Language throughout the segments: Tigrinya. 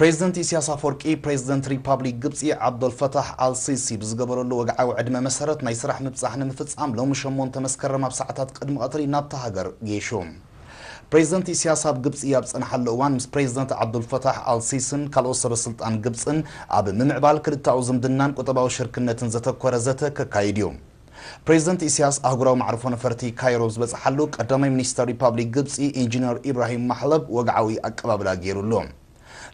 ፕሬዚደንት ኢሲያስ ኣፈወርቂ ፕሬዚደንት ሪፓብሊክ ግብፂ ዓብዶልፈታሕ ኣልሲሲ ብዝገበረሉ ወግዓዊ ዕድመ መሰረት ናይ ስራሕ ምብፃሕ ንምፍፃም ሎሚ ሸሞንተ መስከረም ኣብ ሰዓታት ቅድሚ ቐትሪ ናብታ ሃገር ገይሹ። ፕሬዚደንት ኢሲያስ ኣብ ግብፂ ኣብ ዝፀንሓሉ እዋን ምስ ፕሬዚደንት ዓብዱልፈታሕ ኣልሲሲን ካልኦት ሰበስልጣን ግብፅን ኣብ ምምዕባል ክልተኣዊ ዝምድናን ቁጠባዊ ሽርክነትን ዘተኮረ ዘተ ከካይድ እዩ። ፕሬዝደንት ኢሲያስ ኣህጉራዊ መዕርፎ ነፈርቲ ካይሮ ዝበጽሓሉ ቀዳማይ ሚኒስተር ሪፓብሊክ ግብጺ ኢንጂነር ኢብራሂም ማሕለብ ወግዓዊ ኣቀባብላ ገይሩሉ።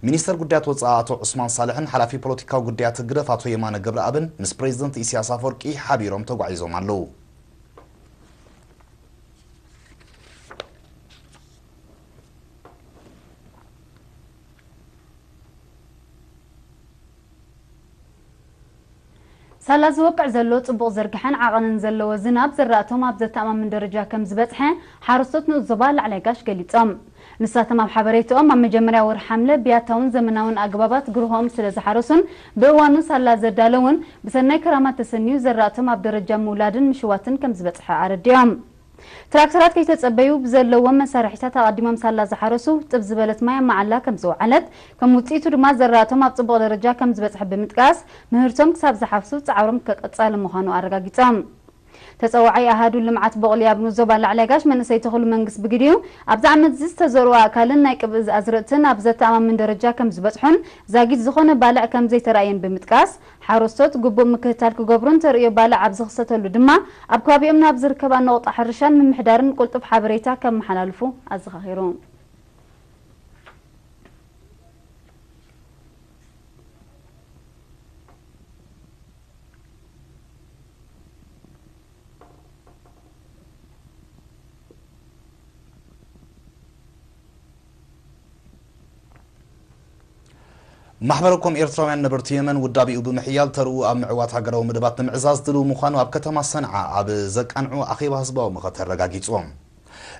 ሚኒስተር ጉዳያት ወጻኢ ኣቶ ዑስማን ሳልሕን ሓላፊ ፖለቲካዊ ጉዳያት ህግደፍ ኣቶ የማነ ገብረኣብን ምስ ፕሬዝደንት ኢሲያስ ኣፍወርቂ ሓቢሮም ተጓዒዞም ኣለዉ። ሳላ ዝወቅዕ ዘሎ ጽቡቕ ዝርግሐን ዓቐንን ዘለዎ ዝናብ ዝራእቶም ኣብ ዘተኣማምን ደረጃ ከም ዝበጽሐ ሓረስቶት ንኡስ ዞባ ላዕላይ ጋሽ ገሊጾም። ንሳቶም ኣብ ሓበሬትኦም ኣብ መጀመርያ ወርሒ ሓምለ ብያታውን ዘመናውን ኣገባባት ግርሆኦም ስለ ዝሓረሱን ብእዋኑ ሳላ ዘዳለዉን ብሰናይ ክራማት ተሰንዩ ዘራእቶም ኣብ ደረጃ ምውላድን ምሽዋትን ከም ዝበጽሐ ኣረዲኦም። ትራክተራት ከይተፀበዩ ብዘለዎም መሳርሒታት ኣቐዲሞም ሳላ ዝሓረሱ ጥብ ዝበለት ማይ ኣብ መዓላ ከምዝወዓለት ከም ውፅኢቱ ድማ ዘራእቶም ኣብ ፅቡቕ ደረጃ ከምዝበፅሐ ብምጥቃስ ምህርቶም ክሳብ ዝሓፍሱ ፃዕሮም ቀፃሊ ምዃኑ ኣረጋጊፆም። ተፀዋዓይ ኣሃዱ ልምዓት ቦቕሊ ኣብ ንኡስ ዞባ ላዕላይ ጋሽ መንእሰይ ተኽሉ መንግስ ብግዲኡ ኣብዚ ዓመት እዚ ዝተዘርኡ ኣእካልን ናይ ቅብእዝ ኣዝርእትን ኣብ ዘተኣማምን ደረጃ ከምዝበፅሑን ዛጊት ዝኾነ ባልዕ ከምዘይተራእየን ብምጥቃስ ሓረስቶት ግቡእ ምክትታል ክገብሩን ተርእዮ ባልዕ ኣብ ዝኽሰተሉ ድማ ኣብ ከባቢኦም ናብ ዝርከባ ነቑጣ ሕርሻን ምምሕዳርን ቁልጡፍ ሓበሬታ ከመሓላልፉ ኣዘኻኺሩ። ማሕበረ ኮም ኤርትራውያን ነበርቲ የመን ውዳቤኡ ብምሕያል ተርኡ ኣብ ምዕዋት ሃገራዊ መደባት ንምዕዛዝ ድልው ምዃኑ ኣብ ከተማ ሰንዓ ኣብ ዘቃንዑ ኣኼባ ህዝባዊ መኸተ ኣረጋጊጹ።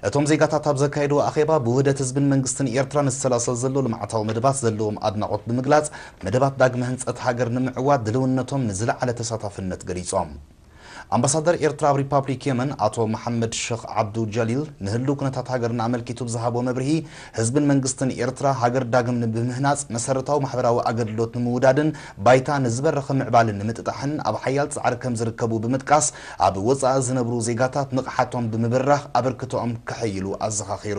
እቶም ዜጋታት ኣብ ዘካየድዎ ኣኼባ ብውህደት ህዝብን መንግስትን ኤርትራ ንዝሰላሰል ዘሎ ልምዓታዊ መደባት ዘለዎም ኣድናቖት ብምግላጽ መደባት ዳግመ ህንጸት ሃገር ንምዕዋት ድልውነቶም ንዝለዓለ ተሳታፍነት ገሊጾም። ኣምባሳደር ኤርትራ ኣብ ሪፓብሊክ የመን ኣቶ መሓመድ ሸኽ ዓብዱ ጀሊል ንህልው ኩነታት ሃገርና ኣመልኪቱ ብዝሃቦ መብርሂ ህዝብን መንግስትን ኤርትራ ሃገር ዳግም ንብምህናጽ መሰረታዊ ማሕበራዊ ኣገልግሎት ንምውዳድን ባይታ ንዝበረኸ ምዕባልን ንምጥጣሕን ኣብ ሓያል ጻዕሪ ከምዝርከቡ ብምጥቃስ ኣብ ወጻኢ ዝነብሩ ዜጋታት ንቕሓቶም ብምብራኽ ኣበርክቶኦም ከሐይሉ ኣዘኻኺሩ።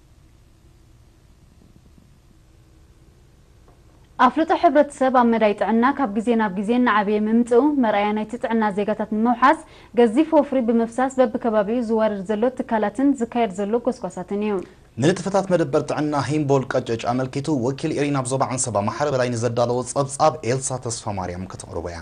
ኣፍልጦ ሕብረተሰብ ኣብ መዳይ ጥዕና ካብ ግዜ ናብ ግዜ እናዓበየ ምምፅኡ መርኣያ ናይቲ ጥዕና ዜጋታት ንምውሓስ ገዚፍ ወፍሪ ብምፍሳስ በቢከባቢኡ ዝዋረድ ዘሎ ትካላትን ዝካየድ ዘሎ ጎስጓሳትን እዩ። ንንጥፈታት መደበር ጥዕና ሂምቦል ቀጨጭ ኣመልኪቱ ወኪል ኢሪና ኣብ ዞባ ዓንሰባ ማሓረ በላይ ንዘዳለዎ ፀብፃብ ኤልሳ ተስፋማርያም ከተቕርቦ እያ።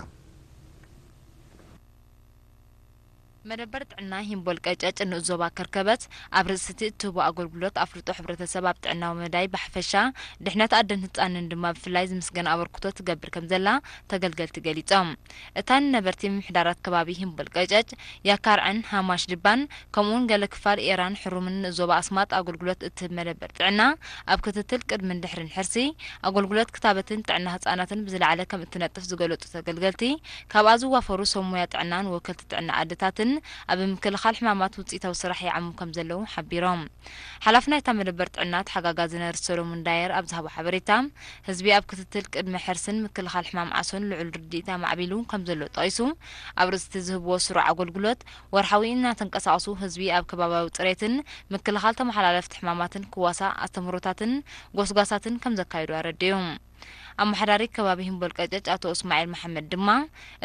መደበር ጥዕና ሂምቦል ቀጨጭ ንኡስ ዞባ ከርከበት ኣብ ርእሲቲ እትህቦ ኣገልግሎት ኣፍልጦ ሕብረተሰብ ኣብ ጥዕናዊ መዳይ ብሓፈሻ ድሕነት ኣደን ህጻንን ድማ ብፍላይ ዝምስገን ኣበርክቶ ትገብር ከምዘላ ተገልገልቲ ገሊጾም። እታ ንነበርቲ ምምሕዳራት ከባቢ ሂምቦል ቀጨጭ፣ ያካርዕን ሃማሽ ድባን ከምኡ'ውን ገለ ክፋል ኤራን ሕሩምን ንኡስ ዞባ ኣስማጥ ኣገልግሎት እትህብ መደበር ጥዕና ኣብ ክትትል ቅድምን ድሕርን ሕርሲ ኣገልግሎት ክታበትን ጥዕና ህጻናትን ብዝለዓለ ከምእትነጥፍ ዝገለጹ ተገልገልቲ ካብኣ ዝዋፈሩ ሰብ ሞያ ጥዕናን ወከልቲ ጥዕና ኣደታትን ኣብ ምክልኻል ሕማማት ውፅኢታዊ ስራሕ ይዓሙ ከምዘለዉ ሓቢሮም። ሓላፊ ናይታ መደበር ጥዕና ተሓጋጋዚ ነርስ ሰሎሙን ዳየር ኣብ ዝሃቦ ሓበሬታ፣ ህዝቢ ኣብ ክትትል ቅድመ ሕርስን ምክልኻል ሕማም ዓሶን ልዑል ርድኢት ኣማዕቢሉ ከምዘሎ ጠቒሱ፣ ኣብ ርእሲ'ቲ ዝህብዎ ስሩዕ ኣገልግሎት ወርሓዊ እናተንቀሳቐሱ ህዝቢ ኣብ ከባብያዊ ፅሬትን ምክልኻል ተመሓላለፍቲ ሕማማትን ክዋሳእ ኣስተምህሮታትን ጎስጓሳትን ከምዘካየዱ ኣረዲኡ። ኣመሓዳሪ ከባቢ ሂምቦልቀጨጭ ኣቶ እስማዒል መሓመድ ድማ፣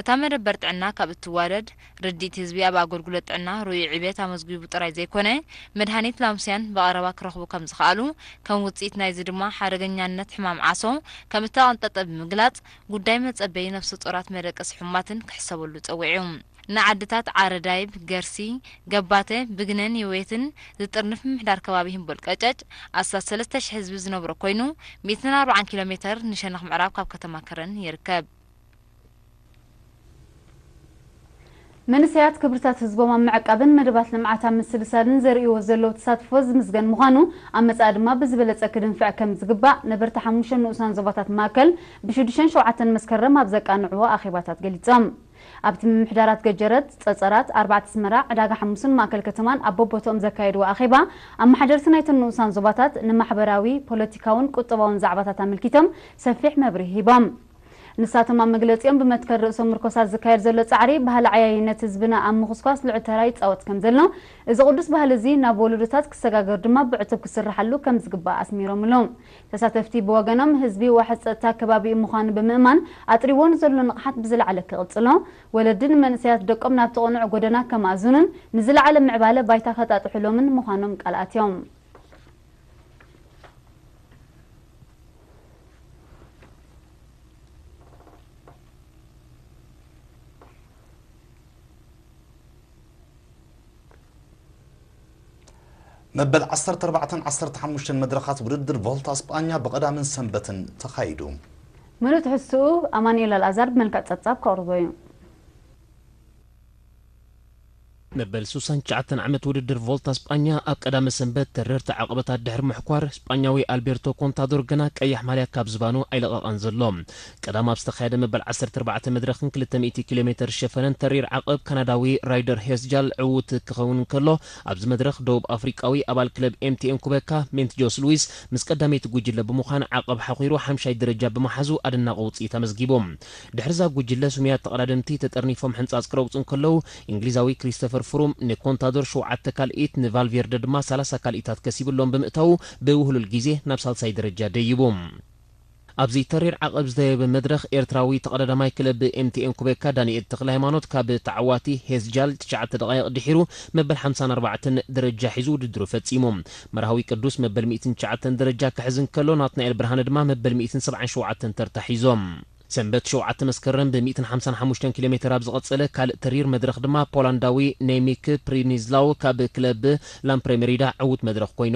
እታ መደበር ጥዕና ካብ እትዋደድ፣ ርድኢት ህዝቢ ኣብ ኣገልግሎት ጥዕና ርኡይ ዕብየት ኣመዝጒቡ ጥራይ ዘይኮነ፣ መድሃኒት ላምስያን ብቐረባ ክረኽቡ ከም ዝኸኣሉ፣ ከም ውጽኢት ናይዚ ድማ ሓደገኛነት ሕማም ዓሶ ከም እተቐንጠጠ ብምግላጽ፣ ጉዳይ መጸበዪ ነፍሰጾራት መደቀሲ ሕሙማትን ክሕሰበሉ ጸዊዑ። ንዓድታት ዓረዳይብ፣ ገርሲ፣ ገባተ፣ ብግነን የዌትን ዝጥርንፍ ምምሕዳር ከባቢ ህምቦል ቀጨጭ፣ ኣስታት ሰለስተ ሽሕ ህዝቢ ዝነብሮ ኮይኑ፣ ሚእትን ኣርብዓን ኪሎ ሜተር ንሸነኽ ምዕራብ ካብ ከተማ ከረን ይርከብ። መንእሰያት ክብርታት ህዝቦም ኣብ ምዕቃብን መደባት ልምዓት ኣብ ምስልሳልን ዘርእይዎ ዘለዉ ተሳትፎ ዝምስገን ምዃኑ፣ ኣብ መጻኢ ድማ ብዝበለጸ ክድንፍዕ ከም ዝግባእ ነበርቲ ሓሙሽተ ንኡሳን ዞባታት ማእከል ብሽዱሽተን ሸውዓተን መስከረም ኣብ ዘቃንዕዎ ኣኼባታት ገሊጾም። ኣብቲ ምምሕዳራት ገጀረት፣ ጸጸራት፣ ኣርባዕተ ኣስመራ፣ ዕዳጋ ሓሙስን ማእከል ከተማን ኣብ በቦትኦም ዘካየድዎ ኣኼባ፣ ኣመሓደርቲ ናይተን ንኡሳን ዞባታት ንማሕበራዊ፣ ፖለቲካውን ቁጠባውን ዛዕባታት ኣመልኪቶም ሰፊሕ መብርሂ ሂቦም። ንሳቶም ኣብ መግለጺኦም ብመትከል ርእሶም ምርኮሳት ዝካየድ ዘሎ ጻዕሪ ባህሊ ዓያይነት ህዝብና ኣብ ምኹስኳስ ልዑል ተራ ይጻወት ከምዘሎ፣ እዚ ቅዱስ ባህሊ እዚ ናብ ወለዶታት ክሰጋገር ድማ ብዕቱብ ክስርሓሉ ከምዝግባእ ኣስሚሮምሉ። ተሳተፍቲ ብወገኖም ህዝቢ ዋሕስ ፀጥታ ከባቢኡ ምዃኑ ብምእማን ኣጥሪዎ ንዘሎ ንቕሓት ብዝለዓለ ክቕፅሎ፣ ወለዲ ንመንእሰያት ደቆም ናብቲ ቅኑዕ ጎደና ከማእዝኑን ንዝለዓለ ምዕባለ ባይታ ከጣጥሑሎምን ምዃኖም ቃል ኣትዮም። መበል ዓሰርተ ኣርባዕተን ዓሰርተ ሓሙሽተን መድረኻት ውድድር ቮልታ ስጳኛ ብቐዳምን ሰንበትን ተኻይዱ። ምሉእ ትሕዝትኡ ኣማኑኤል ኣልኣዛር ብመልክዕ ጸብጻብ ከቕርቦ እዩ። መበል ሱሳን ትሽዓተን ዓመት ውድድር ቮልታ ስጳኛ ኣብ ቀዳመ ሰንበት ተረርቲ ዓቐበታት ድሕሪ ምሕኳር፣ ስጳኛዊ ኣልቤርቶ ኮንታዶር ግና ቀያሕ ማልያ ካብ ዝባኑ ኣይለቐቐን ዘሎ። ቀዳም ኣብ ዝተኻየደ መበል ዓሰርተ ኣርባዕተ መድረኽን ክልተ ሚእቲ ኪሎ ሜተር ሸፈነን ተሪር ዓቐብ ካናዳዊ ራይደር ሄስጃል ዕዉት ክኸውን እንከሎ፣ ኣብዚ መድረኽ ደቡብ ኣፍሪቃዊ ኣባል ክለብ ኤምቲኤን ኩበካ ሜንትጆስ ሉዊስ ምስ ቀዳመይቲ ጉጅለ ብምዃን ዓቐብ ሓዂሩ ሓምሻይ ደረጃ ብምሓዙ ኣደናቒ ውጽኢት ኣመዝጊቡ። ድሕሪ'ዛ ጉጅለ ስሙያት ተቐዳደምቲ ተጠርኒፎም ሕንጻጽ ክረግጹ እንከለዉ፣ እንግሊዛዊ ክሪስተፈር ፍሩም ንኮንታዶር ሸውዓተ ካልኢት ንቫልቬርደ ድማ ሰላሳ ካልኢታት ከሲቡ እሎም ብምእታዉ ብውህሉል ግዜ ናብ ሳልሳይ ደረጃ ደይቡ። ኣብዚ ተሪር ዓቐብ ዝተየበ መድረኽ፣ ኤርትራዊ ተቐዳዳማይ ክለብ ኤምቲኤን ኩቤካ ዳኒኤል ተክለሃይማኖት ካብ ተዓዋቲ ሄዝጃል ትሽዓተ ደቓይቕ ድሒሩ መበል ሓምሳን ኣርባዕተን ደረጃ ሒዙ ውድድሩ ፈጺሙ። መርሃዊ ቅዱስ መበል ሚእትን ትሽዓተን ደረጃ ክሕዝ እንከሎ፣ ናትናኤል ብርሃነ ድማ መበል ሚእትን ሰብዓን ሸውዓተን ተርታ ሒዞም። ሰንበት ሸውዓተ መስከረም ብ ሚእትን ሓምሳን ሓሙሽተን ኪሎ ሜተር ኣብ ዝቐጸለ ካልእ ተሪር መድረኽ ድማ ፖላንዳዊ ነይሚክ ፕሪኒዝላው ካብ ክለብ ላምፕሬ መሪዳ ዕዉት መድረኽ ኮይኑ።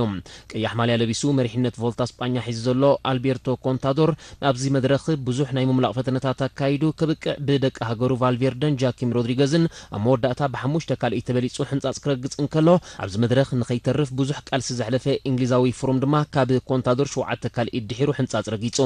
ቀያሕ ማልያ ለቢሱ መሪሕነት ቮልታ ስጳኛ ሒዙ ዘሎ ኣልቤርቶ ኮንታዶር ኣብዚ መድረኽ ብዙሕ ናይ ምምላቕ ፈተነታት ኣካይዱ ከብቅዕ ብደቂ ሃገሩ ቫልቬርደን ጃኪም ሮድሪገዝን ኣብ መወዳእታ ብሓሙሽተ ካልእይ ተበሊጹ ሕንጻጽ ክረግጽ እንከሎ ኣብዚ መድረኽ ንኸይተርፍ ብዙሕ ቃልሲ ዘሕለፈ ኢንግሊዛዊ ፍሩም ድማ ካብ ኮንታዶር ሸውዓተ ካልእይ ድሒሩ ሕንጻጽ ረጊጹ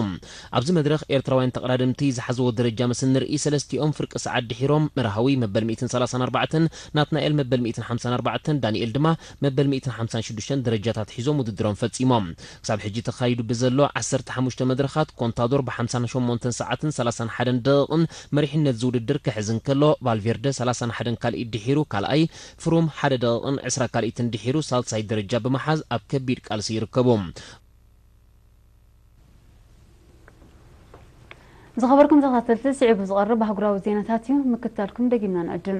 ኣብዚ መድረኽ ኤርትራውያን ተቐዳደምቲ ዝሓዝዎ ደረጃ ምስ እንርእይ ሰለስቲኦም ፍርቂ ሰዓት ድሒሮም፣ መርሃዊ፣ መበል ሚእትን ሰላሳን ኣርባዕተን፣ ናትናኤል፣ መበል ሚእትን ሓምሳን ኣርባዕተን፣ ዳኒኤል ድማ መበል ሚእትን ሓምሳን ሽዱሽተን ደረጃታት ሒዞም ውድድሮም ፈጺሞም። ክሳብ ሕጂ ተኻይዱ ብዘሎ ዓሰርተ ሓሙሽተ መድረኻት ኮንታዶር ብሓምሳን ሸሞንተን ሰዓትን ሰላሳን ሓደን ደቒቕን መሪሕነት'ዚ ውድድር ክሕዝ እንከሎ፣ ቫልቬርደ ሰላሳን ሓደን ካልኢት ድሒሩ ካልኣይ፣ ፍሩም ሓደ ደቒቕን ዕስራ ካልኢትን ድሒሩ ሳልሳይ ደረጃ ብምሓዝ ኣብ ከቢድ ቃልሲ ይርከቡ። ዝኸበርኩም ተኸታተልቲ ስዒቡ ዝቐርብ ኣህጉራዊ ዜናታት እዩ ምክትታልኩም ደጊምና ንዕድም